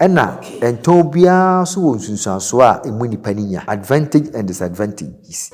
Ɛnna ɛntɔ obiara nso wɔ nsunsuansoɔ a emu nnipa no nya, advantage and disadvantages.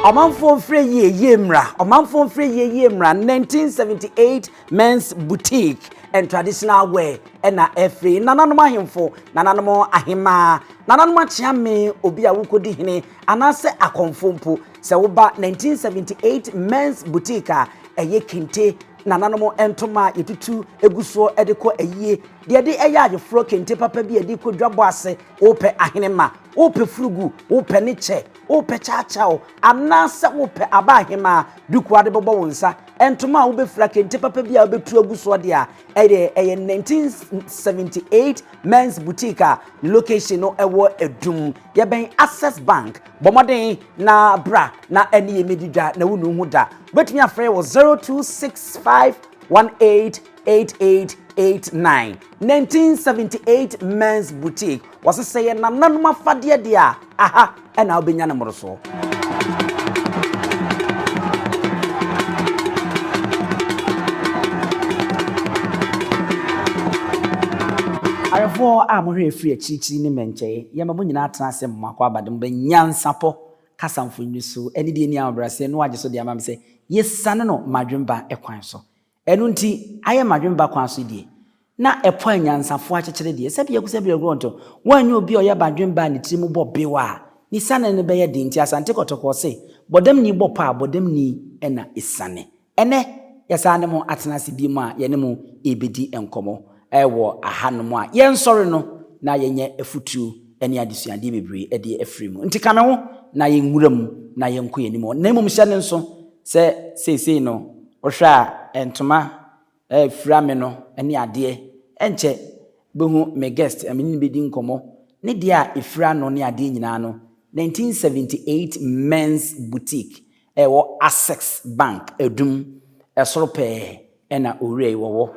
Ɔmanfoɔ mfrɛ yie yie mmra Ɔmanfoɔ mfrɛ yie yie mmra, 1978 Men's Boutique and Traditional Wear ɛna ɛfiri nananom ahemfo, nananom ahemaa, nananom akyeame, obi a wokɔdi hene anaasɛ akɔmfo mpo. Sɛ woba 1978 Men's Boutique a, ɛyɛ kente nananom ntoma a yɛtutu egu soɔ ɛde kɔ ayie, deɛ ɛde ɛyɛ ayeforɔ kente papa bi a ɛde kɔ dwabɔ ase, wopɛ ahenemma, wopɛ furugu, wopɛ ne kyɛ, Wopɛ kyawkyaw anaasɛ wopɛ aba ahema a duku a wɔde bɛbɔ wo nsa, ntoma a wobefura, kente papa bi a wobetu agu so de a ɛyɛ ɛyɛ 1978 Men's Boutique a ne location no ɛwɔ Adum. Yɛbɛn Access Bank. Bɔ mmɔden na bra na ɛne yɛn mmedi dwa na wunnu ho da. Wobɛtumi afrɛ yɛn wɔ 026518 8889 1978 Men's Boutique wɔse sɛ yɛ nananom afadeɛ deɛ a aha ɛna wobɛnya ne mmorosoɔ Awerɛfoɔ a mohwɛ ɛfiri akyirikyiri ne mmɛnkyɛe, yɛma mo nyinaa tena ase mma kɔ abade mobɛ nyansapɔ kasa mfonini so ne deɛ ɛni ahobrɛaseɛ no agye so de ama me sɛ yɛsiane no m'adwemba kwan so. Ɛno nti, ayɛ m'adwene ba kwan so deɛ, na ɛpo a anyansafoɔ akyekyere deɛ, sɛdeɛ ɛgu sɛ berɛ korɔ nto, woanyɛ obi a ɔyɛ m'adwene ba a ne tiri mu bɔ bew a, ne siane no bɛyɛ den nti Asante Kɔtɔkɔ se, Bɔdamni bɔ pɔ a, bɔdamni na ɛsiane. Ɛnnɛ, yɛsan ne mo atena ase bio a yɛne mo rebɛdi nkɔmmɔ. Wɔ ahanom a yɛnsɔre no, na yɛnya afutuo ne adesuadeɛ bebree de afiri mu. Nti ka me ho na yɛnwura mu na yɛnkɔ yɛn anim. Na mmom hyɛ no nso sɛ seesei no, wohwɛ a ntoma fira me no ne adeɛ, ɛnkyɛ wobɛhu me guest a me ne no bɛdi nkɔmmɔ, ne deɛ a ɛfira no ne adeɛ nyinaa no, 1978 Men's Boutique, ɛwɔ Access Bank, Adum, ɛsoro pɛɛ. na owurai wɔ hɔ.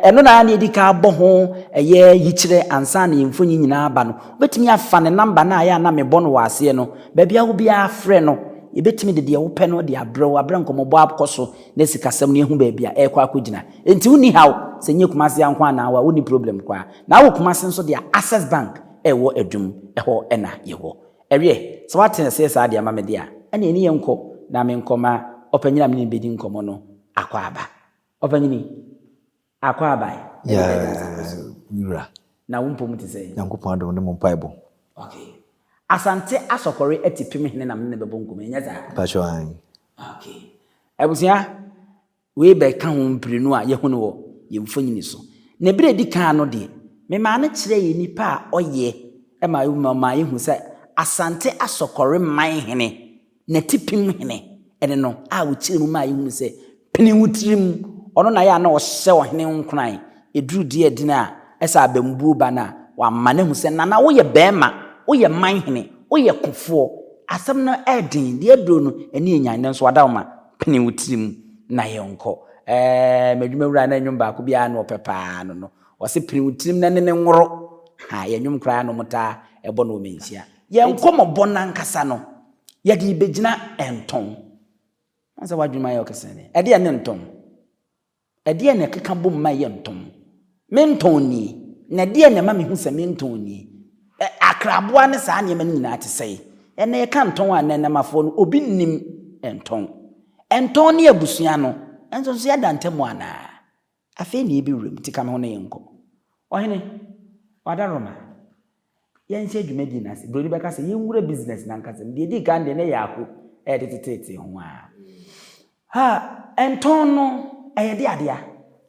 Ɛno na na yɛdi kan abɔ ho ɛyɛ yikyerɛ ansa na yɛn mfonyin nyinaa aba no. Wobɛtumi afa ne nɔmba no a ɛyɛ a na mebɔ no wɔ aseɛ no. Baabi a wo biara frɛ no. Yɛbɛtumi de deɛ wopɛ no de abrɛ wo aberɛ a nkɔmmɔbɔ akɔ so na sikasɛm no yɛahu baabi a ɛrekɔ akɔgyina. Enti wonni haw. Sɛ nyɛ Kumasi ha nko ara na wo a, wonni problem koraa. Na wɔ Kumasi nso deɛ a, Access Bank ɛwɔ Adum, ɛhɔ na yɛwɔ. Ɛwiɛ, sɛ woate aseɛ saa deɛ ma me deɛ a, ɛne ɛne yɛnkɔ na menkɔ ma ɔpanyini a mene no bɛdi nkɔmmɔ no akɔ aba. Ɔpanyini, akɔ aba ɛ? Yɛ, me wura. Na wo mpom te sɛn? Nyankopɔn adom ne mo mpaebɔ. Ok. Asante Asɔkɔre Atipem hene na mene no bɛbɔ nkɔmmɔ yi, ɛnyɛ saa? Mpakyɛw, aane. Ok. Abusua, Wei bɛka ho mprenu a yɛahu no wɔ yɛn mfonini so. Na bere a edi kan no deɛ, memaa no kyerɛɛ nnipa a ɔyɛ ma wɔn ma maa yɛhu sɛ Asante Asɔkɔre man hene, n'atipem hene, ne no a ɔkyerɛɛ mu maa yɛhunu sɛ pene wo tirim, ɔno na yɛ a na ɔhyɛ ɔhene nkuran ɛduru Duadin a ɛsɛ abambuo ba no a wama no ahu sɛ Nana woyɛ barima, woyɛ man hene, woyɛ kofoɔ, asɛm no ɛyɛ den, deɛ aduro no ani yɛ nyan nanso wada wo ma. Pene wo tiri mu na yɛnkɔ. Ɛɛ, m'adwuma wura na nnwom baako bi ara na ɔpɛ pa ara no no. Ɔse pene wo tiri mu na ne ne nworo. Ha, yɛn nnwom koraa na wɔtaa bɔ no wɔ Manhyia. Yɛn nkɔmmɔbɔ no ankasa no, yɛde rebɛgyina Ntɔn. Woahu sɛ w'adwenem ayɛ wo kesee dɛn? Ɛdeɛ ne Ntɔn. Ɛdeɛn na ɛkeka bom ma ɛyɛ ntɔn? Me ntɔn nie, na ɛdeɛn na ɛma mehu sɛ me ntɔn nie? Ɛ, akraboa ne saa nneɛma no nyinaa te sɛn? Ɛnna yɛka ntɔn a, nnɛnnɛmafoɔ no, obi nnim ntɔn. Ntɔn ne abusua no nso nso yɛada ntam anaa? Afei na yɛbɛwuram, nti ka me ho na yɛnkɔ. Ɔhene, wada Roma. Yɛnhyɛ dwumadie no ase. Buroni bɛka sɛ, Yɛnwura business no ankasa mu. Deɛ ɛdi kan deɛ, na ɛyɛ ako ɛyɛ de teteetee ho ara. Ha, ɛntɔn no, ɛyɛ de adeɛ a.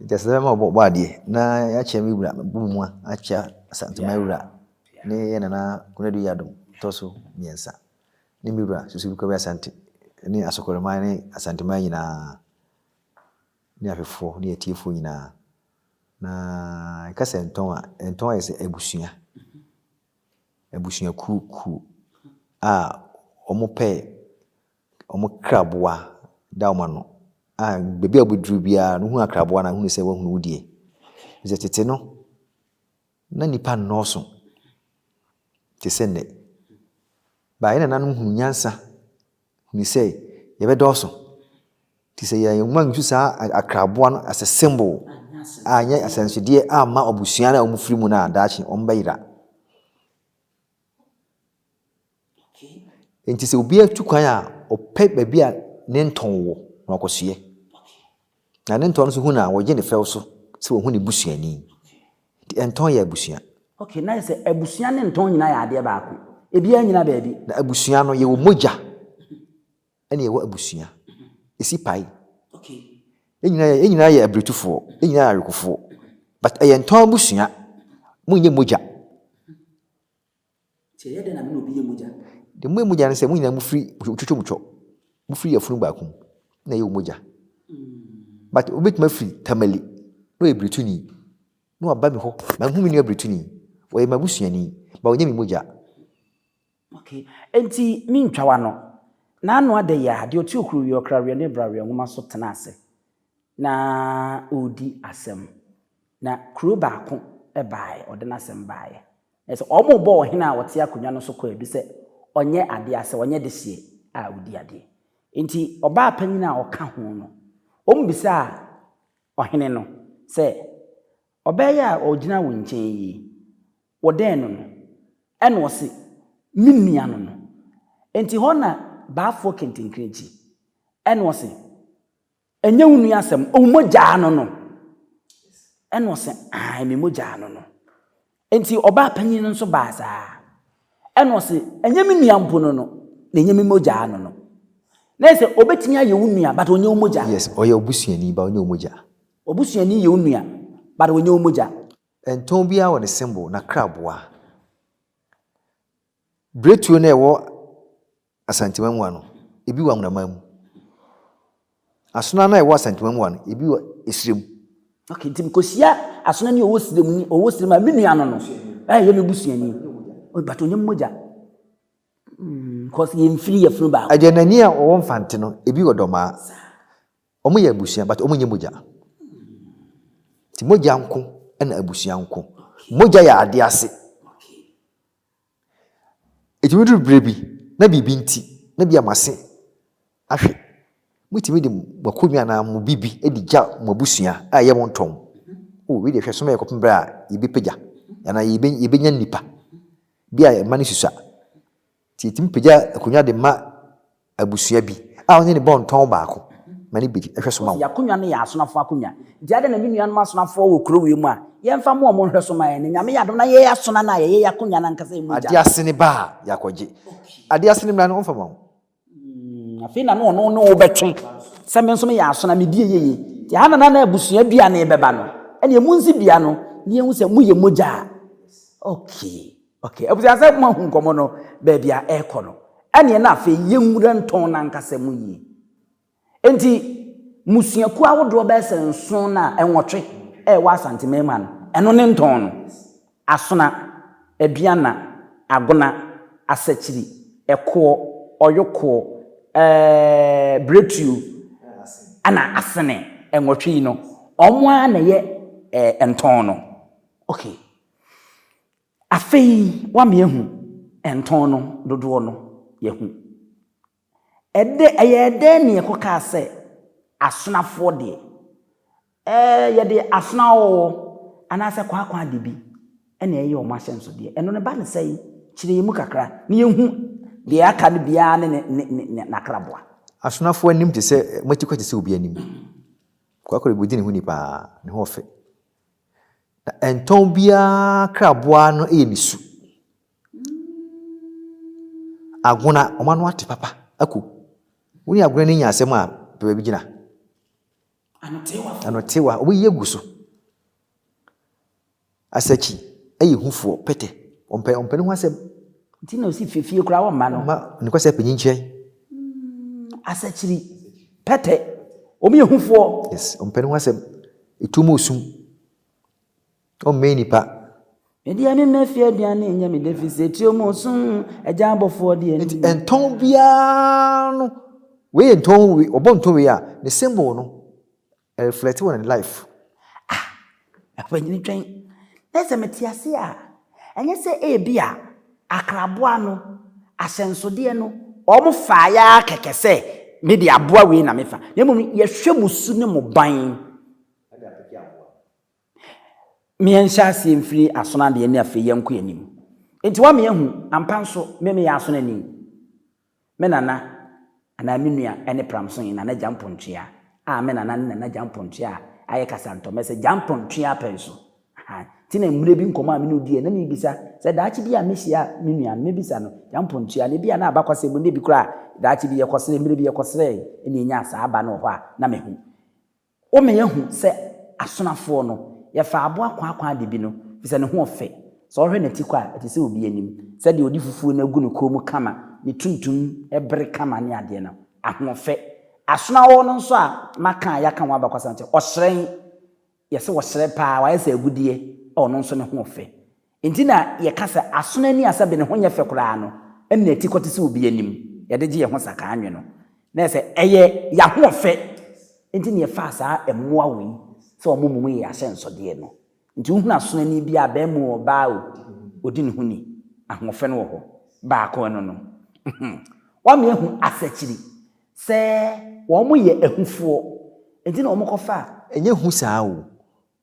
Nti ɛsɛ sɛ bɛma wɔbɔ adeɛ na yɛakyea me wura, mɛbɔ me mua akyea Asantuma wura ne yɛn nana Konadu Yadom tɔ so mmiɛnsa ne me wura Susubi Kwabi Asante ne Asokore man ne Asantuma nyinaa. Ne ahwɛfoɔ ne atiefoɔ nyinaa. Na yɛka sɛ ntɔn a, ntɔn ayɛ sɛ abusua, abusuakuo kuo a wɔpɛ wɔn kraboa da wɔn ano a baabi a wɔbɛduru biara no hunu akraboa no a hunu sɛ wahunu wo deɛ. Ɛfiri sɛ tete no, na nnipa nnɔɔso te sɛ nnɛ. But yɛn nananom hunu nyansa. Hu sɛ yɛbɛdɔɔso. Te sɛ yɛn mma nsu saa akraboa no as a symbol a nyɛ asɛnsodeɛ amma abusua no a wɔn firi mu no a daakye wɔn bɛyera. Nti sɛ obi atu kwan a ɔpɛ baabi a ne ntɔn wɔ na ɔkɔsoɛ. Na ne ntɔn no nso hu no a, wɔgye no fɛw so sɛ wɔhu ne busuani. Enti ntɔn yɛ abusua. Okay, na ayɛ sɛ abusua ne ntɔn nyinaa yɛ adeɛ baako. Ebiara nnyina baabi. Na abusua no, yɛwɔ mogya ɛna yɛwɔ abusua. Esi pae. Okay. Yɛn nyinaa yɛ, yɛn nyinaa yɛ abiretufoɔ, yɛn nyinaa yɛ awekofoɔ. But ɛyɛ ntɔn abusua. Monyɛ mogya. Nti ɛyɛ dɛn na me ne obi yɛ mogya? Deɛ moyɛ mogya ne sɛ, mo nyinaa mofiri, motwitwa mu twɔ. Mofiri yafunu baako mu, na ɛyɛ wo mogya. But obi bɛtumi afiri Tamale, na ɔyɛ Birituni, na waba me hɔ. Manhu me nua Birituni. Ɔyɛ m'abusuani, but ɔnyɛ me mogya. Okay. Enti mentwa w'ano. N'ano ada yi ara, deɛ ɔte okurowie, ɔkraweɛ ne braweɛ nwoma so tena ase, na ɔredi asɛm. Na kuro baako baaeɛ, ɔde n'asɛm baeɛ. Ɛsɛ sɛ wɔbɔ ɔhene a ɔte akonnwa no so kwaadu sɛ ɔnyɛ ade a sɛ ɔnyɛ dehyeɛ a ɔdi adeɛ. Enti ɔbaa panin a ɔka ho no, wɔbisaa ɔhene no sɛ, Ɔbaa yi a ɔgyina wo nkyɛn yi, wodɛn no no? Ɛnna ɔse, Me nua no no. Enti hɔ na baafoɔ kentenkrenkyi. Ɛnna ɔse, Ɛnyɛ wo nua asɛm, wo mogyaa no no. Ɛna ɔse, aane me mogyaa no no. Enti ɔbaa panyin no nso baa saa. Ɛna ɔse, ɛnyɛ me nua mpo no no, na ɛnyɛ me mogyaa no no. Na ɛyɛ sɛ ɔbɛtumi ayɛ wo nua but ɔnyɛ wo mogya. Yes, ɔyɛ w'abusuani but ɔnyɛ wo mogya. W'abusuani yɛ wo nua but ɔnyɛ wo mogya. Ɛntɔn biara wɔ ne symbol, n'akraboa. Biretuo no a ɛwɔ Asantuma mua no, ebi wɔ amonaman mu. Asona no a ɛwɔ Asantuma mua no, ebi wɔ esire mu. Ok, nti mekɔhyia asona ni a ɔwɔ sire mu ni, ɔwɔ sire mu a, me nua no no, a ɛyɛ me busuani, but ɔnyɛ me mogya. Mm, cause yɛn mfiri yɛ funu baako. Ɛdeɛ na ni a ɔwɔ Mfante no, ebi wɔ Dɔmaa. Wɔn yɛ abusua, but wɔn nyɛ mogya. Nti mogya nko ɛna abusua nko. Mogya yɛ adeɛ ase. Ɛtumi duru berɛ bi na biribi nti na bia mo ase ahwe. Motumi de mo akonnwa anaa mo biribi de gya mo abusua a ɛyɛ mo ntɔn. O, wei deɛ hwɛ soma yɛ kɔpem berɛ a yɛbɛpagya anaa yɛbɛnya nnipa bi a mma no susua. Nti yɛtumi pagya akonnwa de ma Abusua bi a ɔne no bɔ ntɔn baako ma ne bedi nhwɛso ma wo. Y'akonnwa no yɛ asonafo akonnwa. Nti adɛn na me nuanom asonafoɔ wɔ kuro wei mu a yɛmfa mmoa wɔn nhwɛso ma yɛn? Na Nyame yɛ adom na yɛyɛ asona no a yɛyɛ y'akonnwa no ankasa ɛmu gya no. Adeɛ ase no ba a y'akɔgye. Adeɛ ase no mmra no ɔmfa ma wo. Hmm, afei na no ɔno ne wo bɛtwe. Sɛ me nso meyɛ asona, me die yeye. Nti ɛha na na na abusua dua no rebɛba no. Ɛne ɛmu nsi dua no, ne yɛhu sɛ mo yɛ mogya a. Okay. Okay, abusua sɛ mo ahu nkɔmɔ no baabi a ɛrekɔ no, ɛneɛ na afei yɛnwura ntɔn no ankasa mu yie. Enti, mmusuakuo ahodoɔ bɛyɛ sɛ nson no a ɛnwɔtwe ɛwɔ Asante Manima no, ɛno ne ntɔn no. Asona, Aduana, Agona, Asakyiri, Ɛkoɔ, Ɔyokoɔ, ɛɛɛ Biretuo, ɛna Asene. Ɛnwɔtwe yi no, wɔn ara na ɛyɛ ɛɛ ntɔn no. Okay. Afei wame ahu ntɔn no dodoɔ no yɛhu. Ɛdɛ ɛyɛɛ dɛn ne ɛkɔkaa sɛ asonafoɔ deɛ ɛɛ yɛde asona ɔɔ anaasɛ kwaakwa ade bi ɛna ɛyɛ wɔn ahyɛnsodeɛ ɛno no ba ne sɛn kyerɛ yɛn mu kakra na yɛnhu deɛ aka no biara ne ne ne ne ne n'akraboa. Asonafoɔ anim te sɛ moatikwa te sɛ obi anim. Kwaakwa de bɛdi ne ho ni paa ne ho ɔfɛ Na ɛntɔn obiara kraboa no yɛ ne su. Agona, wɔn ano ate papa. Aku, wo ne agona no nya asɛm a, pɛ baabi gyina. Anotewa. Anotewa, wɔyi agu so. Asakyi, ɛyɛ hufoɔ, pɛtɛ. Ɔmpɛ, ɔmpɛ ne ho asɛm. Nti na ɔsi fefie koraa wɔn mma no. Ma, ne kɔsɛ panyin kyerɛ. Hmm, asakyiri, pɛtɛ, wɔn yɛ hufoɔ. Yes, ɔmpɛ ne ho asɛm. Etu mu su. Ɔmmɛn nnipa. Me deɛ me mma fie aduane nyɛ me dɛ fi sɛ tuo mu sum agya abɔfoɔ deɛ ni. Nti ntɔn biara no wei yɛ ntɔn wei ɔbɔ ntɔn wei a ne symbol no ɛreflɛte wɔ ne life. Ah ɔpanyini twɛn na sɛ mete ase a ɛnyɛ sɛ ebi a. Akraboa no asɛnsodeɛ no, wɔfaeɛ ara kɛkɛ sɛ, Me deɛ aboa wei na mefa. Na mmom yɛhwɛ mo su ne mo ban. Meɛnhyɛ aseɛ mfiri asono adeɛ ne afei yɛnkɔ anim. Enti woama yɛahu, ampa nso, me meyɛ asonani. Me nana anaa me nua ne Pramsonye Nana Gyampɔntwea a me nana ne Nana Gyampɔntwea a ayɛ kasantɔmmɛ sɛ Gyampɔntwea pɛnso. Ahaa, nti na mmerɛ bi nkɔmmɔ a me ne wo diiɛ na merebisa sɛ daakye bi a mɛhyia me nua no mɛbisa no Gyampɔntwea no ebia na abakɔsɛm mu na ebi koraa daakye bi yɛkɔsrɛɛ, mmerɛ bi yɛkɔsrɛɛ na yɛnyaa saa aba no wɔ hɔ a na mahu. Woma yɛahu sɛ asonafoɔ no, yɛfaa aboa kwakwaa de bi no, ɛfiri sɛ ne ho ɔfɛ. Sɛ wohwɛ n'atikɔ a, ɛte sɛ obi anim. Sɛdeɛ ɔde fufuo no agu ne kɔn mu kama, ne tuntum bere kama ne adeɛ no, ahoɔfɛ. Asonaɔɔ no nso a maka a yɛaka ho abakɔsɛm no te, ɔhyerɛn, yɛse ɔhyerɛn pa ara, wayɛ sɛ agudeɛ, ɔno nso ne ho ɔfɛ. Enti na yɛka sɛ asono ani a sɛ bene ho nyɛ fɛ koraa no nna ti kɔte sɛ obi anim, yɛde gye yɛn ho sakaa nwe no, na ɛsɛ ɛyɛ y'ahoɔfɛ nti na yɛfaa saa mmoa wei sɛ wɔmmɔ mu yɛ y'ahyɛnsɔdeɛ no. Nti wohunu asono ani biara a, barima o, ɔbaa o, ɔdi ne ho ni, ahoɔfɛ no wɔ hɔ. Baako, ɛno no. Hum. Woama yɛahu asakyiri sɛ wɔyɛ ahufoɔ, enti na wɔkɔfa. Ɛnyɛ hu saa o,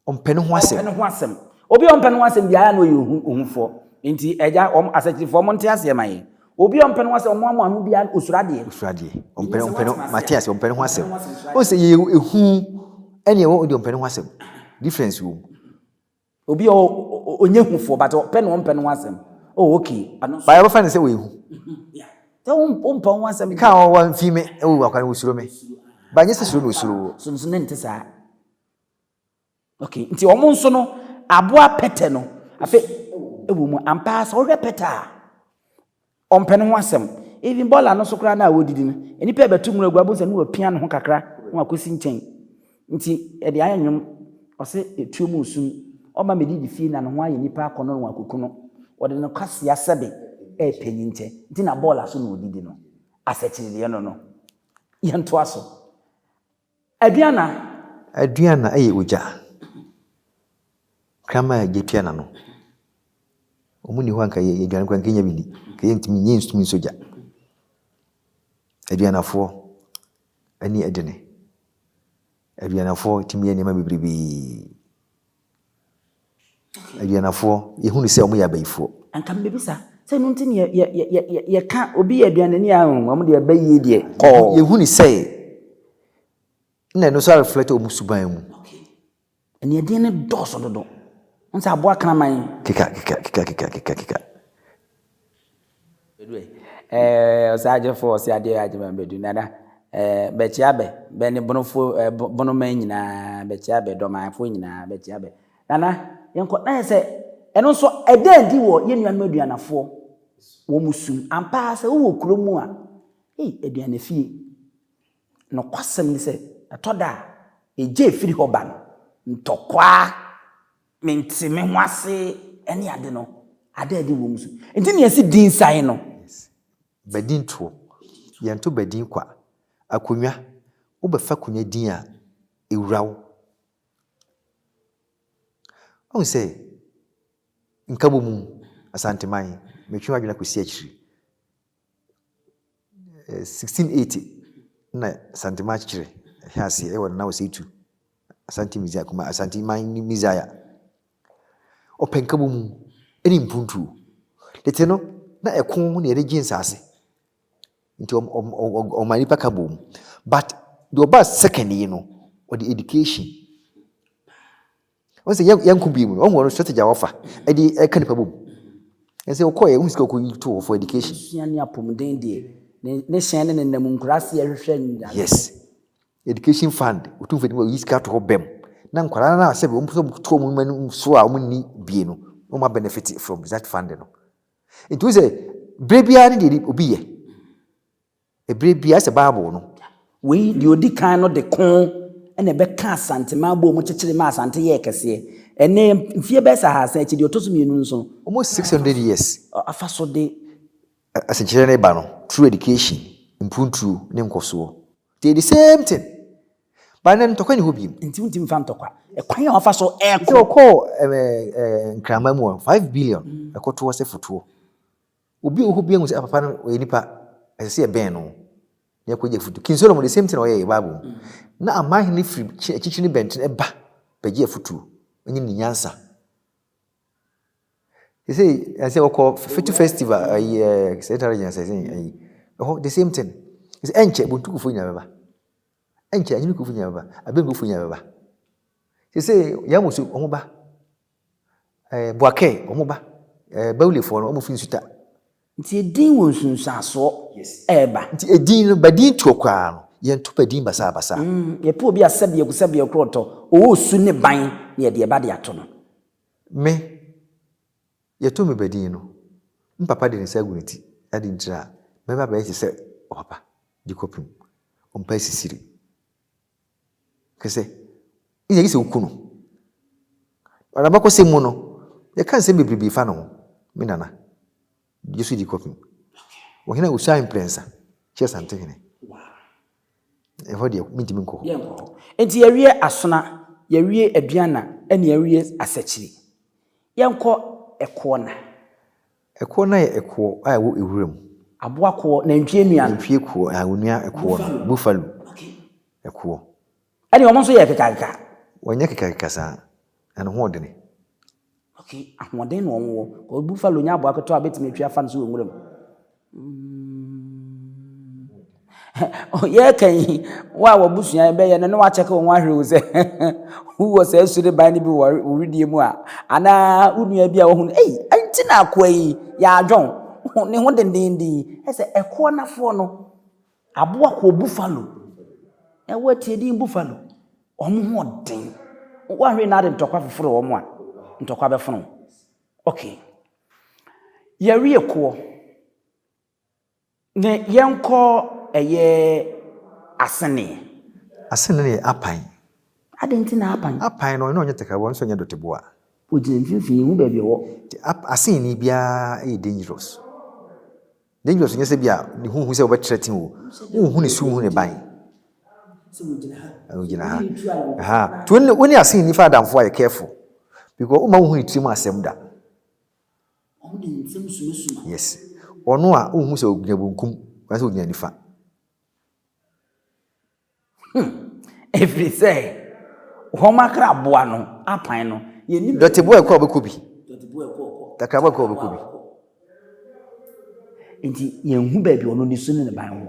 Ɔmpɛ ne ho asɛm. Ɔmpɛ ne ho asɛm. Obi a ɔmpɛ ne ho asɛm biara na ɔyɛ ohu ohufoɔ. Nti agya wɔn asɛkyifoɔ wɔn nte aseɛ ma yɛn. Obi a ɔmpɛ ne ho asɛm wɔn amoa ano biara osuro adeɛ. Osuro adeɛ. Ɔmpɛ ne ɔmpɛ ne mate aseɛ ɔmpɛ ne ho asɛm. Wɔn sɛ yɛ ehu ɛne ɛwɔ ɔde ɔmpɛ ne ho asɛm. Difference wɔ mu. Obi a ɔnyɛ ehufoɔ but ɔpɛ ne ɔmpɛ ne ho asɛm. Oh okay. Baayɛ ɔbɛfa ne sɛ ɔyɛ ehu. Yeah. Sɛ ɔmpɛ wɔn asɛm. Ɛka a ɔwɔ nfi me ɛwɔ akwan osuro me. Baayɛ nyɛ sɛ suro na osuro wɔ. So ne nte saa. Okay, nti wɔn nso no, aboa pɛtɛ no, afei ɛwɔ mu ampa sɛ wɔhwɛ pɛtɛ a, ɔmpɛ ne ho asɛm. Even bɔɔla no so koraa no a wɔdidi no, nnipa ɛbɛto mu agu abom sɛ ne wɔapia ne ho kakra na wakɔsi nkyɛn. Nti ɛde ayɛ nwom, ɔse etuo mu nsum, ɔma medi de fie na ne ho ayɛ nipa akɔnɔ na wakɔku no. Wɔde no kwasea sɛbe ɛyɛ panyin nkyɛ, nti na bɔɔla so na ɔdidi no. Asɛkyerɛ deɛ no no. Yɛntoa so. Aduana. Aduana yɛ ogya. Kraman a gya tua n'ano. Wɔn ni hɔ a nka yɛ aduane kora nka yɛnya bi ni. Nka yɛntumi nyɛ ntumi nsɔ gya. Aduanafoɔ ani ɛdene. Aduanafoɔ tumi yɛ nneɛma bebrebe. Aduanafoɔ, yɛhunu sɛ wɔyɛ abayifoɔ. Anka mebisa, sɛ ɛno nti na yɛka obi yɛ aduanani a, wɔn deɛ abayie deɛ kɔɔ. Yɛhunu sɛ na ɛno nso areflɛte wɔn suban mu. Aniɛdeɛ no dɔɔso dodo. Wɔn sɛ aboa kraman. Keka, keka, keka, keka, keka, keka. Ɛɛ ɔsaagyefo ɔseadeɛ Agyeman Badu Nana ɛɛ bɛkyia bɛ bɛ ne Bonofoɔ ɛɛ bo Bonoman nyinaa bɛkyia bɛ Dɔmanfoɔ nyinaa bɛkyia bɛ Nana yɛnkɔ na yɛ sɛ ɛno nso ɛda adi wɔ yɛn nuanom Aduanafoɔ wɔn sum ampa ara sɛ wowɔ kuro mu a ei Aduanafie nokwasɛm ne sɛ ɛtɔ da a egya a ɛfiri hɔ ba no ntɔkwa Mente me ho ase ne ade no, ada adi wom nso. Enti nea ɛse din sae no. Yes. Badin toɔ. Yɛnto badin kwa. Akonwa, wobɛfa konwa din a, ɛwura wo. Woahu sɛ Nkabomum, Asanteman, metwe w'adwene akɔsi akyiri. 1680 na Santen man akyekyere hwɛ aseɛ wɔ Nana Osei Tutu, Asante Mizaya kuma Asante man ne Mizaya. Ɔpɛ nkabɔ mu ne mpuntuo. Tete no na ɛko na yɛde gye nsaase. Nti ɔma nipa ka bom. But deɛ ɔbaa second yi no, ɔde education. Ɔn sɛ yɛn yɛnko bi mu no, ɔhu ɔno strategy a wɔfa ɛde ɛka nipa bom. Ɛsɛ ɔkɔɛ ɔhu sika ɔkɔ yi to hɔ for education. Sua ne apomuden deɛ ne ne hyɛn ne ne nam nkuraseɛ hwehwɛ nyareɛ. Yes. Education fund, ɔtumfo de ma ɔyi sika to hɔ bɛm na nkwadaa no a sɛbi wɔn pɛsɛ wɔn to wɔn ma no so a wɔn nni bie no wɔn ma benefit from that fund no. Nti wo sɛ bere biara ne deɛ obi yɛ. Bere biara sɛ Bible no. Wei deɛ ɔdi kan no de ko na ɛbɛka Asante ma abom mu kyekyere ma Asante yɛɛ kɛseɛ. Ɛnnɛ, mfeɛ bɛyɛ sɛ ahasa akyi, deɛ ɔtɔ so mmienu nso. Almost six hundred years. Afa so de. Asekyerɛ no reba no through education, mpuntuo ne nkɔsoɔ. They the same thing. But nnɛ no ntɔkwa nni hɔ biom. Nti wontumi mfa ntɔkwa. Ɛkwan a wɔfa so ɛkɔ. Nti wɔkɔɔ ɛɛ ɛɛ Nkraman mu a, five billion ɛkɔtoɔ sɛ fotoɔ. Obi wɔ hɔ obiara hu sɛ papa no ɔyɛ nipa ɛsɛ sɛ yɛbɛn no na yɛkɔgye afotu. King Solomon the same thing na ɔyɛ yɛ Bible mu. Na aman hene firi akyirikyiri ne bɛnten ɛba bɛgye afotuo ɛnyɛ ne nyansa. Sɛ sɛ wɔkɔ Fetu festival ayi ɛɛ Central Region sɛ sɛ ayi ɛhɔ the same thing. Sɛ ɛnkyɛ Bontukufoɔ nyinaa bɛba. Ɛnkyɛ Anyinikufoɔ nyinaa bɛba. Abengufoɔ nyinaa bɛba. Sɛ sɛ Yamusu wɔn ba. Eh, Boakɛɛ, wɔn ba. Eh, Bawulefoɔ no, wɔn firi Nsuta. Nti edin wɔ nsunsuansoɔ Yes. ɛɛba. Nti edin no, badin toɔ koraa no, yɛnto badin basaabasaa. Mm, yɛpɛ obi a sɛbiako sɛbiako ɔtɔ, ɔwɔ osu ne ban na yɛde ɛba de ato no. Me, yɛto me badin no, me papa de ne nsa agu ne ti, ade nti na mɛba abɛyɛ te sɛ ɔpapa de kɔpem, ɔmpa asisire. Hwɛ sɛ Israel sɛ woku no. Ɔna abakɔsɛm mu no, yɛka nsɛm bebrebe fa ne ho. Me nana, Yesu di kɔpem. Ɔhene a ɔsuae mprɛnsa kyerɛ Santehene. Ɛhɔ deɛ, mentumi nkɔ hɔ. Enti yɛawie asona, yɛawie aduanna, ɛne yɛawie asakyiri. Yɛnkɔ ɛkoɔ na. Ɛkoɔ no ayɛ ɛkoɔ a ɛwɔ ɛwura mu. Aboa koɔ, nantwie nua no. Nantwie koɔ, aah onua ɛkoɔ no, buffalo, ɛkoɔ. Ɛne wɔn nso yɛ kekakeka. Wɔnyɛ kekakeka saa, na ne hoɔdene. Ok, ahoɔden na wɔn wɔ, cos buffalo nyɛ aboa ketewa a wobɛtumi atwi afa ne so wɔ nwura mu. Yɛreka yi, wo a w'abusua yi bɛyɛ no na woakyɛke wo ho ahwere wo sɛ wowɔ saa sureban no bi wɔ wo wedeɛ mu a, anaa wo nua bi a wohu no, ei, ɛnti na akoa yi yɛ adwon, ne ho dendenden. Ɛsɛ ɛkoa nafoɔ no, aboa kɔɔ buffalo, na woatie din buffalo, wɔn ho ɔden. Woahwere na ade ntɔkwa foforo wɔn a, ntɔkwa bɛfono. Okay. Yɛreɛ koɔ. Ne yɛnkɔ ɛyɛ asenee. Asenee yɛ apan. Adɛn nti na apan? Apan no, ɔno ɔnyɛ takaboa, ɔno nso ɔnyɛ dɔteboa. Ɔgyina mfimfini, yɛnhu baabi ɔwɔ. Nti ap, asenee biara yɛ dangerous. Dangerous nyɛ sɛ bi a ne ho hu sɛ wobɛtrɛten o. Wonhu ne su, wonhu ne ban. Sɛ ɔgyina ha. Ɔgyina ha. Aha. Nti wo ne asenee fa adamfo a yɛ careful. Because woma wonhu ne tirim asɛm da. Wɔde nsɛm sumasuma. Yes. Ɔno a wonhu sɛ ogyina benkum anaasɛ ogyina nifa. Hmm. Ɛfiri sɛ wɔn akraboa no apan no yɛnim. Dɔteboa ɛkɔ a ɔbɛkɔ bi. Dɔteboa ɛkɔ ɔkɔ. Takraboa ɛkɔ a ɔbɛkɔ bi. Nti yɛnhu baabi ɔno ne su ne ne ban wɔ.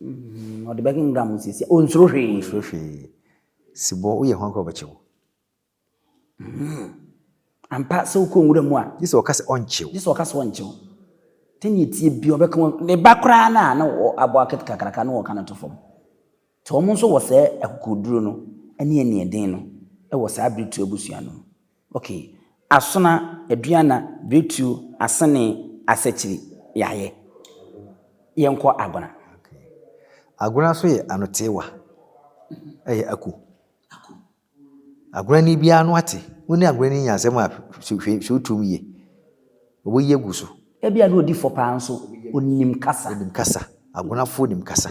Mm, ɔde bɛkenkan mu sisi. Onsuro hwee. Onsuro hwee. Sibɔ, woyɛ ho akora ɔbɛkyew. Mm. Ampa sɛ wokɔ nwura mu a. Gye sɛ ɔka sɛ ɔnkyew. Gye sɛ ɔka sɛ ɔnkyew. Tɛni etie bi ɔbɛka wɔn ne ba koraa na na abɔ akete kakraka na wɔka no to fam. Te wɔn nso wɔ sɛ akokoduro no ɛne ɛne ɛden no ɛwɔ saa abiri tu abusua no. Ok, Asona, Aduana, Biretuo, Asenee, Asakyiri, Yɛayɛ. Yɛnkɔ Agona. Ok, Agona nso yɛ anoteewa. Ɛyɛ Aku. Aku. Agonani biara ano ate. Wo ne Agonani nya asɛm a, hwɛ, hwɛ, hwɛ wo tirim yie. Ɔbɛyi agu so. Ebia na ɔdi fɔ paa nso, ɔnim kasa. Ɔnim kasa. Agonafoɔ nim kasa.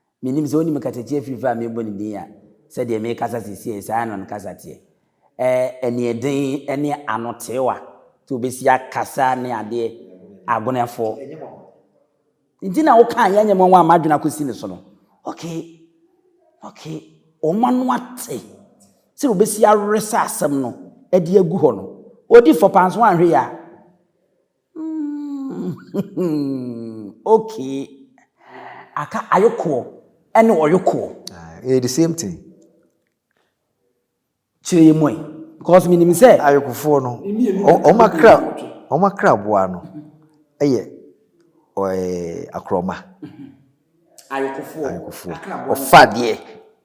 Mennim sɛ wonim kasatia fifiri a merebɔ no din a, sɛdeɛ merekasa seesei saa ara na no kasa teɛ. Ɛɛ aniɛden ne anoteewa nti wobɛsi akasa ne adeɛ agoneɛfoɔ. Nti na woka a yɛnyɛ mwanwa a m'adwene akɔsi ne so no. Okay, okay, wɔn ano ate sɛ wobɛsi aweresa asɛm no de agu hɔ no. Ɔdi fɔ paa nso woanhwɛ yie a. Mm, okay. Aka ayokoɔ ɛne ɔyokoɔ. Ah, ɛyɛ the same thing. Kyerɛ yɛ mu ɛ. Because menim sɛ. Ayokofoɔ no, wɔn akra, wɔn akra boa no ɛyɛ ɔɛ akorɔma. Ayokofoɔ. Ayokofoɔ. Ɔfa adeɛ.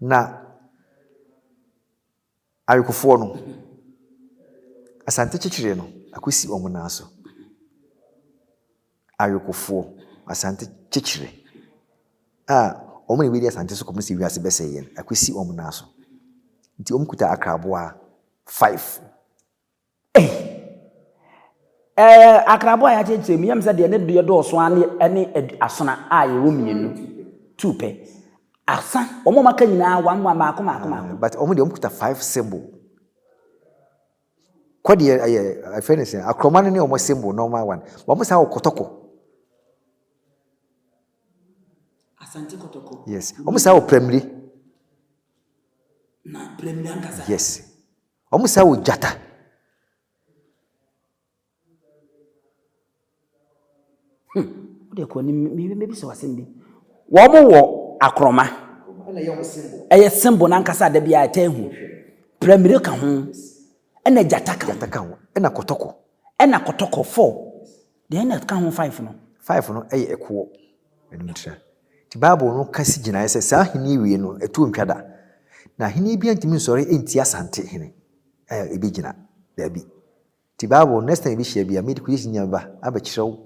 Na awekofoɔ no, Asante kyekyereɛ no akɔsi wɔn nan so. Awekofoɔ, Asante kyekyereɛ a wɔn na wɔadi Asante so kɔpem sɛ wiase bɛsɛeɛ no akɔsi wɔn nan so. Nti wɔkuta akraboa five. Ei! Ɛɛ, akraboa a yɛakyerɛkyerɛ mu yi, ɛyɛ me sɛ deɛ ne deɛ dɔɔso ara ne ɛne adu asona a yɛwɔ mmienu, two pɛ. Asa, wɔn a wɔaka nyinaa, one one, mmaako mmaako mmaako. But wɔn deɛ wɔkuta five symbol. Kɔ deɛ ɛyɛ, ɛfɛ ne sɛ, akorɔma no ne wɔn symbol normal one. But wɔn san wɔ kɔtɔkɔ. Asante kɔtɔkɔ. Yes. Wɔn san wɔ prɛmire. Na prɛmire ankasa. Yes. Wɔn saa wɔ gyata. Hmm, wode kɔ anim, mebisa wasɛm bi. Wɔn wɔ akorɔma. Ɛyɛ symbol n'ankasa da bi a ɛtɛ hu. Pramire ka ho. Ɛna gyata ka ho. Gyata ka ho. Ɛna kɔtɔkɔ. Ɛna kɔtɔkɔ fɔ. Deɛ ɛna ɛka ho five no. Five no yɛ ɛkoɔ. Ɛnom tira. Nti Bible no ka si gyinaeɛ sɛ saa ahennie wei no ɛtoɔ ntwa da. Na ahennie biara ntumi nsɔre ntia Asante hene a ɛbɛgyina. Daabi. Nti Bible next time yɛbɛhyia biara me de creation nyinaa mɛba abɛkyerɛ wo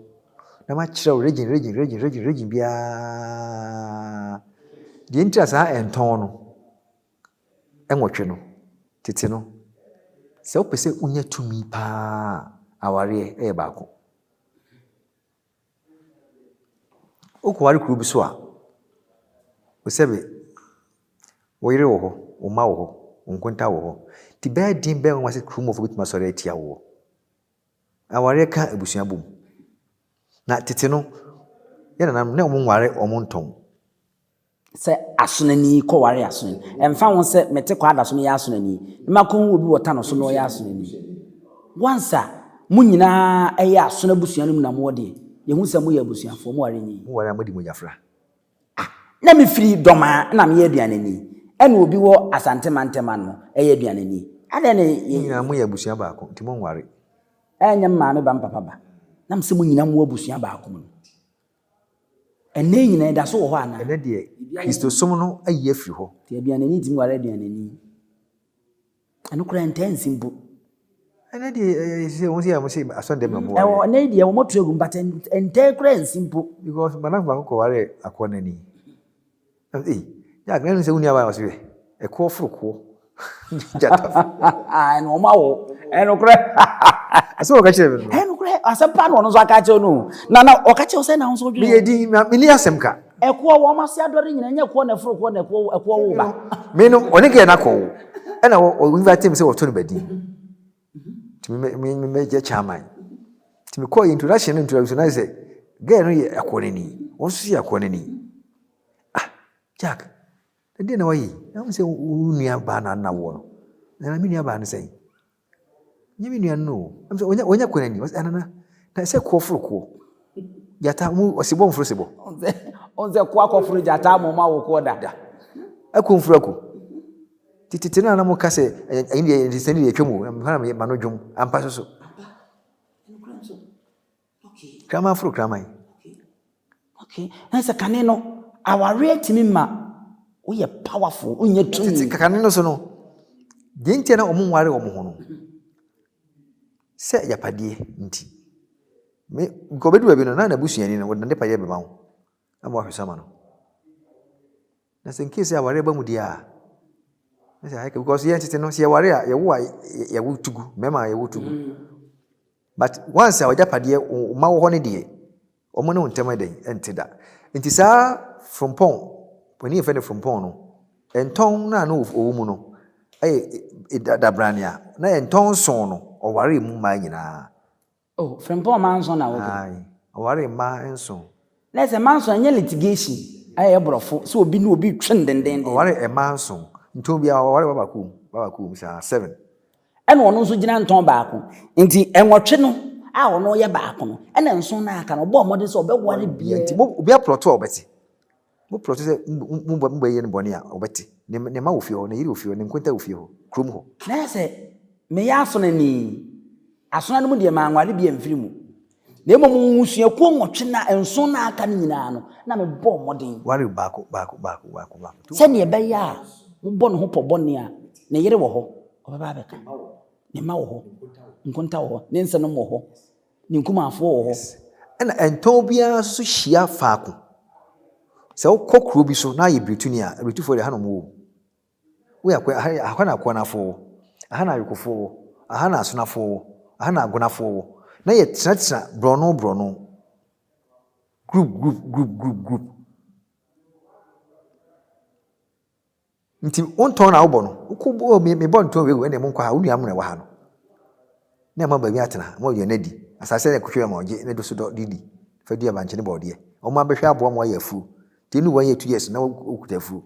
na makyerɛ wo region region region region region biara deɛ nti a saa ɛntɔn no. nwɔtwe no, tete no, sɛ wopɛ sɛ wonya tumi paa a, awareɛ yɛ baako. Wokɔware kuro bi so a, wo sɛ be wo yere wɔ hɔ, wo mma wɔ hɔ, wo nkonta wɔ hɔ, nti bɛyɛ den bɛyɛ nwanwa sɛ kurom hɔfoɔ bɛtumi asɔre atia woɔ. Awareɛ ka abusua bom. Na tete no, yɛn nananom na wɔnware wɔn ntɔn. sɛ asonani kɔware asonani. Ɛmfa ho sɛ mete kɔ ada so meyɛ asonani, na makɔhu obi wɔ tanɔ so na ɔyɛ asonani. Once a mo nyinaa yɛ asono abusua no mu na moɔ deɛ, yɛhu sɛ moyɛ abusuafoɔ, moware nyi. Moware a modi mogya fra. Ah, na mefiri Dɔmaa na meyɛ aduanani, ɛna obi wɔ Asante mantam ano yɛ aduanani. Adɛn na. Mo nyinaa moyɛ abusua baako, nti monware. Ɛnyɛ me maame ba me papa ba, nam sɛ mo nyinaa mowɔ abusua baako mu no. Ɛnnɛ yi nyinaa, ɛda so wɔ hɔ anaa? Ɛnnɛ deɛ, Kristosom no ayi afiri hɔ. Te aduanani tim ware aduanani. Ɛno koraa ɛntaa nsi mpo. Ɛnnɛ deɛ, ɛyɛ ɛyɛ sɛ wɔn sɛ yɛ wɔn sɛ asɔndɛm na wɔn ware. Ɛwɔ ɛnnɛ yi deɛ, wɔn to agu mu, but ɛn- ɛntaa koraa nsi mpo. Because madamfo baako kɔwaree akɔnnani. Na ɔse, Ei, Jack, na ɛnnom sɛ wonni aban? Ɔse, Hwɛ, ɛkoɔ foro koɔ. Gyata foro koɔ. Ɛna wɔn awo. Ɛnokorɛ. Asɛm a ɔka kyerɛ me no. Ɛnokorɛ, asɛm pa na ɔno nso aka akyerɛ no. Na na ɔka kyerɛ wo sɛ na wo nso wodwene. Meyɛ din, menni asɛm ka. Ɛkoɔ, wɔn ase adɔre nyina, ɛnyɛ ɛkoɔ na ɛforo koɔ na ɛkoɔ ɛkoɔ wo ba. Me no, ɔne girl no akɔwo. Ɛna ɔ invite me sɛ wɔto no badin. nti mɛgya kyaman nti mekɔɔ yɛ introduction no introduction no sɛ gɛɛ no yɛ akɔ no ni wɔn nso yɛ akɔ no ni ah jack ɛdeɛ na wayi na wɔn sɛ wɔn nua baa na na wɔ no na me nua baa no sɛn nye me nua no wɔn sɛ wɔn nyɛ akɔ no ni wɔn sɛ ɛnana na ɛsɛ kɔɔ foro kɔɔ gyata wɔn ɔsebɔ wɔn foro sebɔ wɔn sɛ kɔɔ akɔ foro gyata wɔn ma wɔ kɔɔ da akɔ mfuru akɔ. Tete no a na moka sɛ ɛyi deɛ nsɛm deɛ atwam o, ɛhɔ na mema no dwom ampa so so. Kraman foro kraman. Okay. Na sɛ kane no awareɛ tumi ma woyɛ powerful, wonya tumi. Tete kane no so no, deɛ nti na wɔn nware wɔn ho no, sɛ yapadeɛ nti. Me, nkɔbɛdu baabi no, na n'abusuani no, wɔde n'adepa yɛ bɛma wo. na ma wahwɛ so ama no. Na sɛ nkee sɛ aware ba mu deɛ a, na sɛ ayɛ ka because yɛn tete no sɛ yɛware a yɛwo a yɛwo tugu mmarima a yɛwo tugu mm. but once a wɔgya padeɛ ɔma wɔ hɔ no deɛ wɔn ne wo ntɛm ɛdɛn ɛnte da nti saa frompɔn panin yɛfɛ no frompɔn no ntɔn no a na ɔwɔ mu no ɛyɛ dabrane a na ntɔn nson no ɔware mu mmaa nyinaa Oh, Frimpong mma nson na wowɔ. Aye, ɔwaree mma nson. Na ɛsɛ mma nson, ɛnyɛ litigation a ɛyɛ borɔfo sɛ obi ne obi retwe no dendenden. Mm, ɔware mma nson. Ntɔn biara waware ba baako mu, ba baako mu saa, seven. Ɛna ɔno nso gyina ntɔn baako. Nti nwɔtwe no a ɔno yɛ baako no, ɛna nson no a aka no, ɔbɔɔ mmɔden sɛ ɔbɛware biara. Nti mo, obiara plɔto a ɔbɛte. Mo plɔto sɛ mo ba bɛyɛ no bɔne a, ɔbɛte. Ne mma wɔ fie hɔ, ne yere wɔ fie hɔ, ne nkonta wɔ fie hɔ, kurom hɔ. Na ayɛ sɛ meyɛ asonani. Asona no mu deɛ, manware bi amfiri mu. Na mmom mmusuakuo nwɔtwe no a, nson no a aka no nyinaa no, na mebɔɔ mmɔden. Ware baako, baako, baako, baako, baako. Sɛdeɛ ɛbɛyɛ a mobɔ ne ho pɔ bɔne a, ne yere wɔ hɔ, ɔbɛba abɛka. Ne mma wɔ hɔ, nkonta wɔ hɔ, ne nsenom wɔ hɔ. Ne nkumanfoɔ wɔ hɔ. Ɛna ɛntɔn biara nso so hyia faako. Sɛ wokɔ kuro bi so na ayɛ birituni a, abiritufoɔ deɛ ha na wɔn wɔ. Woyɛ akwa ha yɛ aha na akoanafoɔ wɔ, aha na ayokofoɔ wɔ, aha na asonafoɔ wɔ, aha na agonafoɔ wɔ. Na yɛ tenatena borɔno borɔno. Group group group group group. Nti wo ntɔn na wobɔ no wokɔ bɔ oh, me bɔ ntɔn wei wɔ ɛna mu nkɔ ha wo nua mu na ɛwɔ ha no na ɛma baabi atena ma ɔyɛ n'adi asase na kutwe ma ɔgye ne do so dɔ de di fa dua bankye ne bɔɔdeɛ wɔn abɛhwɛ aboa ma ɔyɛ afuo nti ɛnu wɔn yɛ two years na wɔkuta afuo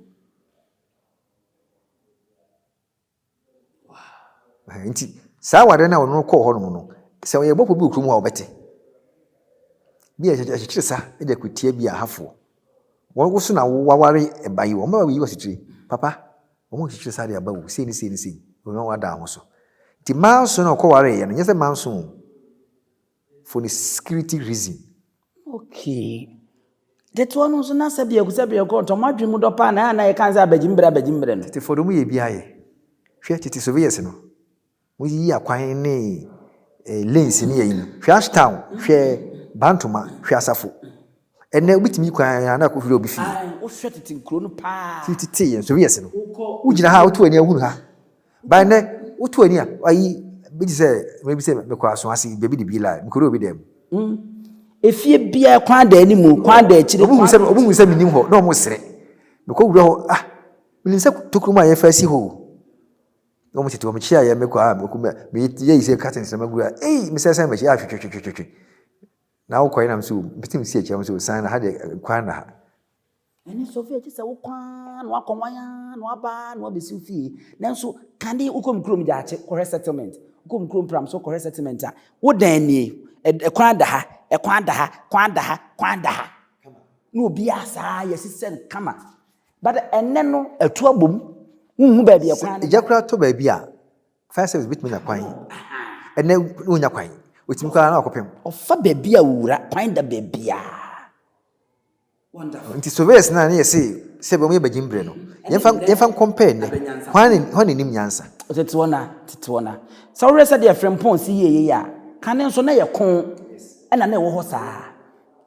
Wow. Nti saa awadeɛ no a ɔno kɔɔ hɔnom no, sɛ ɔyɛ bɔfo bi wɔ kurom hɔ a ɔbɛte. Bi a ɛkyekyere sa de akutia bi a hafoɔ. Wɔn woso na waware ɛba yi, wɔn bɛba bɛyi wɔ asekyire. Papa, wɔn kyekyere sa de aba wu, sei ne sei ne sei, wɔn wada ho so. Nti manso na ɔkɔwareeɛ no, nyɛ sɛ manso o. for ne security reason. Okay. Ketewa no nso na sɛ biaku sɛ biaku ɔtɔ mo adwene mu dɔ paa na ɛyɛ a na yɛka sɛ abagye mbrɛ abagye mbrɛ no. Tete fɔ de ɔmo yɛ bi ayɛ. Hwɛ tete surveyors no. Mo yiyi akwan ne eh, lanes ne yɛ yi no. Hwɛ Ashtown, hwɛ Bantoma, hwɛ Asafo. Ɛnɛ obi tumi yi kwan a na akɔ hwiri obi fie. Ae, wohwɛ tete nkuro no paa. Ti tete yɛn surveyors no. Wokɔ. Wogyina ha a woto w'ani a wohunu ha. By nɛ woto ani a ayi bi te sɛ mɛbi sɛ mekɔ aso ase baabi de bi la mekɔdɔ obi dɛm. Mm. Efie biara kwan da anim o, kwan da akyire. Obi hu sɛ obi hu sɛ menim hɔ na wɔn sere. Mekɔ wura hɔ ah menim sɛ tokuro mu a yɛfa asi hɔ o. Na wɔn tete wɔn kyi ayɛ mekɔ a mekɔ mɛ meyɛ yɛ yi sɛ curtains na magura ei mesɛ sɛ mɛkyi ahwetwetwetwetwe. Na wokɔ yɛ nam so mpitim si akyia wɔn so san na ha deɛ kwan na ha. Ɛne sɔfo a ɛte sɛ wokɔ ara na wakɔ wan ara na waba ara na wabɛsi wo fie. Nanso kane wokɔ me kurom Gyaakye kɔhwɛ settlement, wokɔ me kurom Pramso kɔhwɛ settlement a, wo dan nie, ɛkwan da ha, ɛkwan da ha, kwan da ha, kwan da ha. Na obiara saa yɛasisɛ no kama. But ɛnɛ no atu abom, wonhu baabi ɛkwan no da. Sɛ gya koraa tɔ baabi a, fire service bɛtumi anya kwan. Ɛnɛ wonnya kwan, ɔtumi kɔ ara na wakɔpem. Ɔfa baabi a ɔwura, kwan da baabiara. Ntsi Soviets no a nna yɛse sɛbew wɔyɛ bagyin ber no, yɛmfa yɛmfa nkɔmpɛɛ ndɛ, hɔn ara hɔn na inyim nyansa. Tsetsew na tsetsew na. Sɛ wohwɛ sɛdeɛ Frimpong si yie yei a, kan no nso na ɛyɛ ko na na ɛwɔ hɔ saa.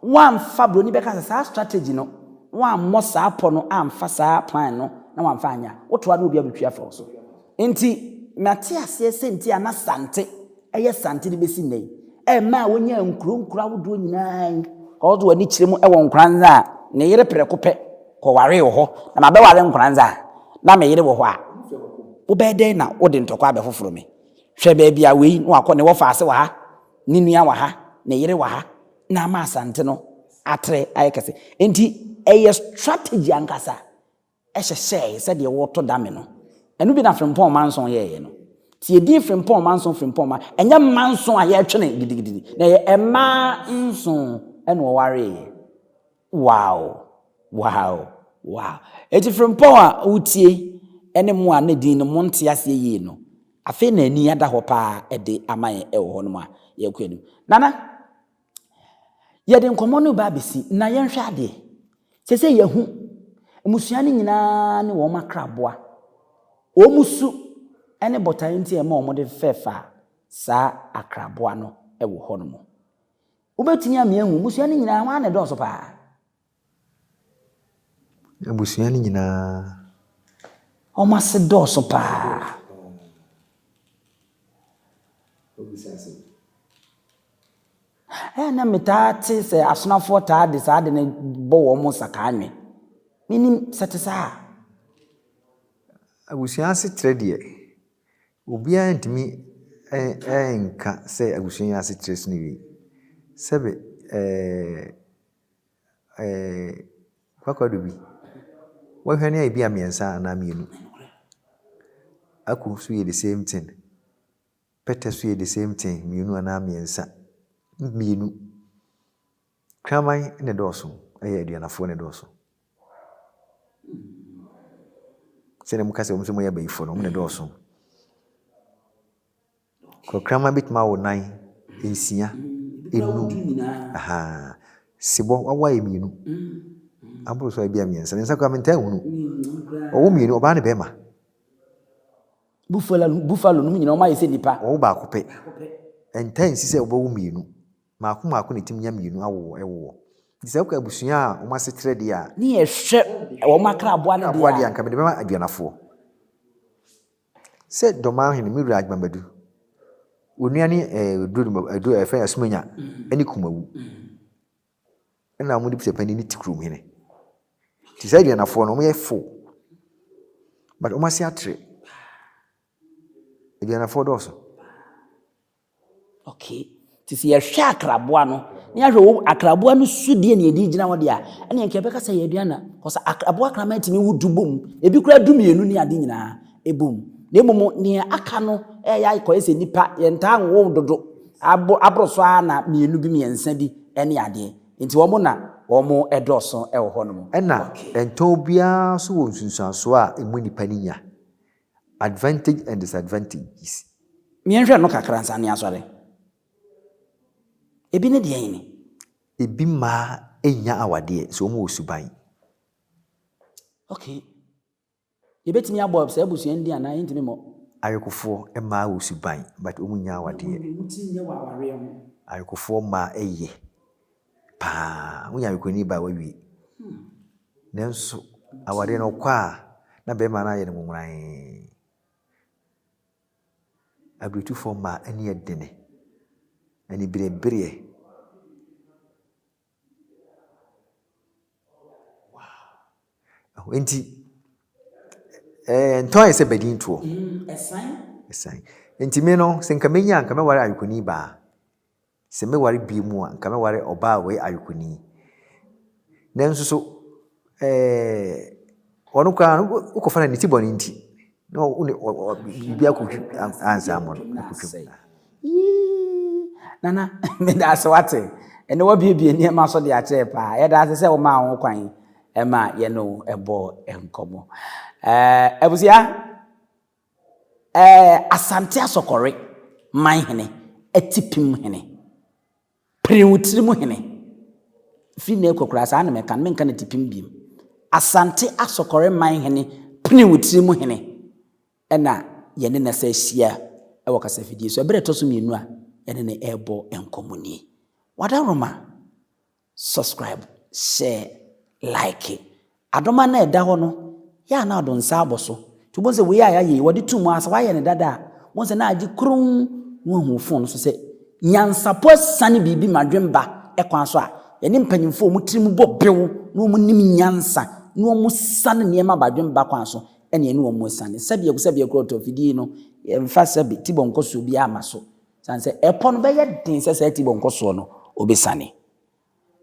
Woamfa, buroni bɛka sɛ, saa strategy no, woammɔ saa pɔ no amfa saa plan no na woamfa anyɛ a, wotoa do a obi abɛtwi afa wo so. Enti, mate aseɛ sɛ nti a na Sante yɛ Sante de bɛsi nnɛ yi, ɛma a wɔnyaa nkuro nkuro ahodoɔ nyinaa yi. Ɔde wɔn ani kyerɛ mu wɔ Nkoranza a, ne yere prɛko pɛ kɔwaree wɔ hɔ. Na mabɛware Nkoranza a, na me yere wɔ hɔ a, wobɛyɛ dɛn na wode ntɔkwa abɛfoforo me? Hwɛ baabi a wei na wakɔ, ne wɔfaase wɔ ha, ne nua wɔ ha, ne yere wɔ ha, na ama Asante no atrɛ ayɛ kɛse. Enti, ɛyɛ strategy ankasa. hyehyɛe sɛdeɛ wɔto dame no. Ɛno bi na Frimpong Manson yɛeɛ no. Nti yɛdin Frimpong Manson Frimpong ma, ɛnyɛ Manson a yɛretwe no gidigidi, na ɛyɛ mmaa nson na wɔwareeɛ. Wow! Wow! Wow! Enti Frimpong a wotie ne mo a na din no monte aseɛ yie no, afei na ani ada hɔ paa de ama yɛn wɔ hɔnom a yɛrekɔ anim. Nana! Yɛde nkɔmmɔ no reba abɛsi, na yɛnhwɛ adeɛ. Sɛ sɛ yɛahu mmusua no nyinaa ne wɔn akraboa. Wɔn su ne botaeɛ nti a ɛma wɔde fɛfaa saa akraboa no wɔ hɔnom. Wobɛtumi ama yɛahu mmusua no nyinaa hwan na ɛdɔɔso paa? Abusua no nyinaa. Wɔn ase dɔɔso paa. Ɛyɛ na metaa te sɛ asonafoɔ taa de saa ade no bɔ wɔn mo sakaa nwe. Menim sɛ te saa. Abusua asetrɛ deɛ, obiara ntumi nka sɛ abusua asetrɛ so no wie. Sɛbe ɛɛ. kwakwadɔ bi, bɔhwɛ no yɛ ebi a mmiɛnsa anaa mmienu, akuo nso yɛ the same thing, pɛtɛ nso yɛ the same thing, mmienu anaa mmiɛnsa, mmienu. Kraman na ɛdɔɔso, ɛyɛ Aduanafoɔ na ɛdɔɔso. Sɛdeɛ moka sɛ wɔn nso wɔyɛ abayifoɔ no, wɔn na ɛdɔɔso. Ɔkraman bɛtumi awo nan, nsia, nnum, ahaa. Sebɔ wawo ayɛ mmienu, aboro so ayɛ bi a mmiɛnsa, mmiɛnsa koraa mentaa nhunu. Ɔwo mmienu, ɔbaa ne bɛɛma. Bufala, buffalo nom nyinaa ɔmo ayɛ sɛ nipa. Ɔwo baako pɛ, ɛntaa nsi sɛ ɔbɛwo mmienu, mmaako mmaako na ɛtumi nya mmienu awoɔ, ɛwoɔ. Nti sɛ wokɔ abusua a ɔmo aseterɛ deɛ a. Ne yɛhwɛ ɔmo akraboa no deɛ a. Akraboa deɛ a nka mede bɛma aduanafoɔ. Sɛ Dɔmahene me wura Agbamadu, onua ne Adu ɛfɛ Asumanya ne Kumawu ɛna wɔn de bisa panyin ne ti kurom hene. Ti saa aduanafoɔ no wɔn yɛ fo, but wɔn ase atere. Aduanafoɔ dɔɔso. Okay. Nti sɛ yɛhwɛ akraboa no, na yɛahwɛ wo akraboa no su deɛ na yɛde gyina hɔ deɛ a, ɛnna nka yɛbɛka sɛ yɛ aduane na. Kɔsa akraboa kraman tumi wo du bom, ebi koraa du mmienu ne ade nyinaa ɛbom. Na mmom nea aka no ɛyɛ akɔyɛ sɛ nipa yɛntaa nwo dodo, abo aboro so ara na mmienu bi mmiɛnsa bi ne adeɛ. Nti wɔn na wɔn dɔɔso wɔ hɔnom. Ɛnna ntɔn biara nso wɔ nsunsuansoɔ a emu nipa no nya. Advantage and disadvantages. Yɛnhwɛ no kakra ansa na yɛasɔre. Ebi ne deɛn ni? Ebi mmaa nnya awadeɛ, so wɔwɔ suban. Okay. Yɛbɛtumi abɔ saa abusua no din anaa yɛntumi mmɔ? Ayekofoɔ mmaa wɔ suban but wɔnnya awadeɛ. Wɔn deɛ wɔn ti nyɛ wɔ awareɛ ho. Ayekofoɔ mmaa ye. paa. Wonya ayɛkwanyi ba a woewie. Nanso awareɛ no ɔkɔ a na bɛrima no ayɛ no nwonwanee. Abiretufoɔ mmaa ani yɛ dene. Aniberebereɛ. Nti ɛɛ ntɔn ayɛ sɛ badin toɔ. Ɛsan. Ɛsan. Nti me no sɛ nka menya nka mɛware ayɛkwanyi baa. Sɛ mɛware bio a, nka mɛware ɔbaa a ɔyɛ ayɔkoni. Nanso so eh, ɔno koraa no, wokɔfa no ne ti bɔne nti, na wone biribi akɔtwi ansa mmɔ no, akɔtwam. Nana, meda ase wate. Ɛnɛ wabiebie nneɛma so de akyerɛ paa. Yɛda ase sɛ womaa ho kwan ma yɛne wo bɔɔ nkɔmmɔ. Eh, abusua, Ɛɛ Asante Asɔkɔre man hene, Atipim hene, Prenwtirim hene, firi nnɛ rekɔ koraa saa na mɛka no, menka no Atipim biom, Asante Asɔkɔre man hene, Prenwtirim hene na yɛne no sɛ ahyia wɔ kasafidie so. Ɛberɛ a ɛtɔ so mmienu a yɛne no rebɔ nkɔmmɔ nie. Wadaroma, Subscribe, share, like. Adoma no a ɛda hɔ no, yɛ a na ɔde nsa abɔ so. Nti wobɛhu sɛ wei a yɛayɛ yi, wɔde to mu ara sɛ woayɛ no dada a, wobɛhu sɛ na agye kronn na woahu wo fon no so sɛ nyansapɔ asiane biribi ma dwen ba kwan so a, yɛne mpanyimfo a wɔn tirim bɔ bew na wɔnim nyansa na wɔsiane nneɛma ba dwen ba kwan so na yɛne wɔn asiane. Sɛbeako sɛbeako ɔtɔ afidie yi no, yɛmfa sɛbe, tibɔ nkɔsoɔ biara mma so. Ɛsiane sɛ ɛpɔ no bɛyɛ den sɛ saa ti bɔ nkɔsoɔ no, ɔbɛsiane.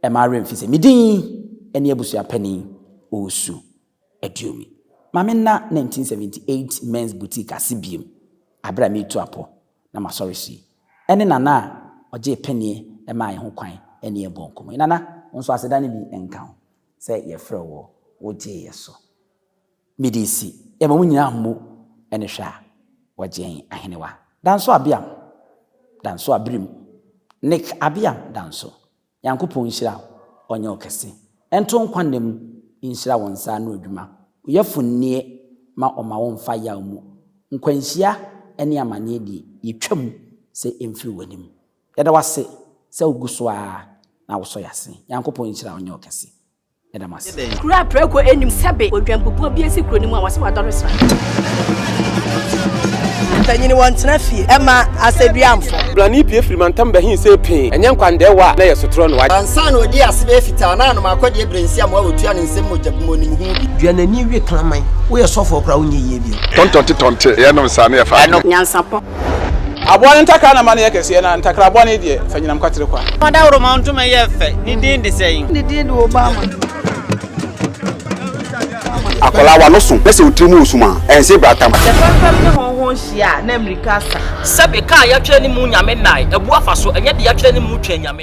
Ɛmma werɛ mfi sɛ me din ne abusua panin, Owusu Aduomi. Ma me nna 1978 Men's Boutique ase bio berɛ a meretu apɔ na masɔre so yi. Ɛne Nana a ɔgyee pannie maa yɛn ho kwan ne yɛn bɔɔ nkɔmmɔ yi. Nana, wo nso aseda no bi nka wo sɛ yɛfrɛɛ wo, wogyeeɛ so. Mede asi yɛ ma mo nyinaa mmu ne hwɛ a wɔgyee Ahenewa Danso Abeam Danso Abirim Nick Abeam Danso Nyankopɔn nhyira wo ɔnyɛ wo kɛse nto nkwa nna mu nhyira wo nsa ano adwuma wo yɛfo nnie ma ɔma wo mfa yaw mu nkwanhyia ne amaneɛ die yɛtwa mu sɛ ɛmfiri w'anim yɛda wo ase sɛ wo gu so ara na wo sɔ yɛ ase Nyankopɔn nhyira wo ɔnyɛ wo kɛse Yɛda mo ase. Kuro a prɛko nnim sɛbe odwanpopɔn bi asi kuro no mu a wɔse wadɔre sra. Mpanyini wɔ ntena fie ɛma asɛduamfo. Brani pue firi mantam bɛhe sei pee, ɛnyɛ nkwandɛɛ wa na ɛyɛ sotorɔ no wa. Ansa na ɔdi ase bɛyɛ fitaa na anom akɔdeɛ berɛ nsi amoa ɔtua ne nsam mogya bi mu ɔnim ho bi. Dua n'ani we kraman. Woyɛ sɔfoɔ koraa wonyɛ yie bio. Tɔntɔnte tɔnte yɛ nom saa ne yɛ fa adwene. Nyansapɔ Aboa no ntakra na ma no yɛ kɛseɛ, na ntakra bɔne deɛ, fa nyinam kwatere kwa. Fa dawuroma ntoma yɛ fɛ, ne din de sɛn? Ne din de Obama. Akwadaa w'ano so na sɛ wo tiri mu resum a, ɛnse brata ma. Sɛ fɛmfɛm ne hɔnhɔn hyia a, na mmirika asa. Sɛbe, ka a yɛatwerɛ ne mu Nyame nnae, abu afa so, ɛnyɛ deɛ yɛatwerɛ ne mu twɛn Nyame.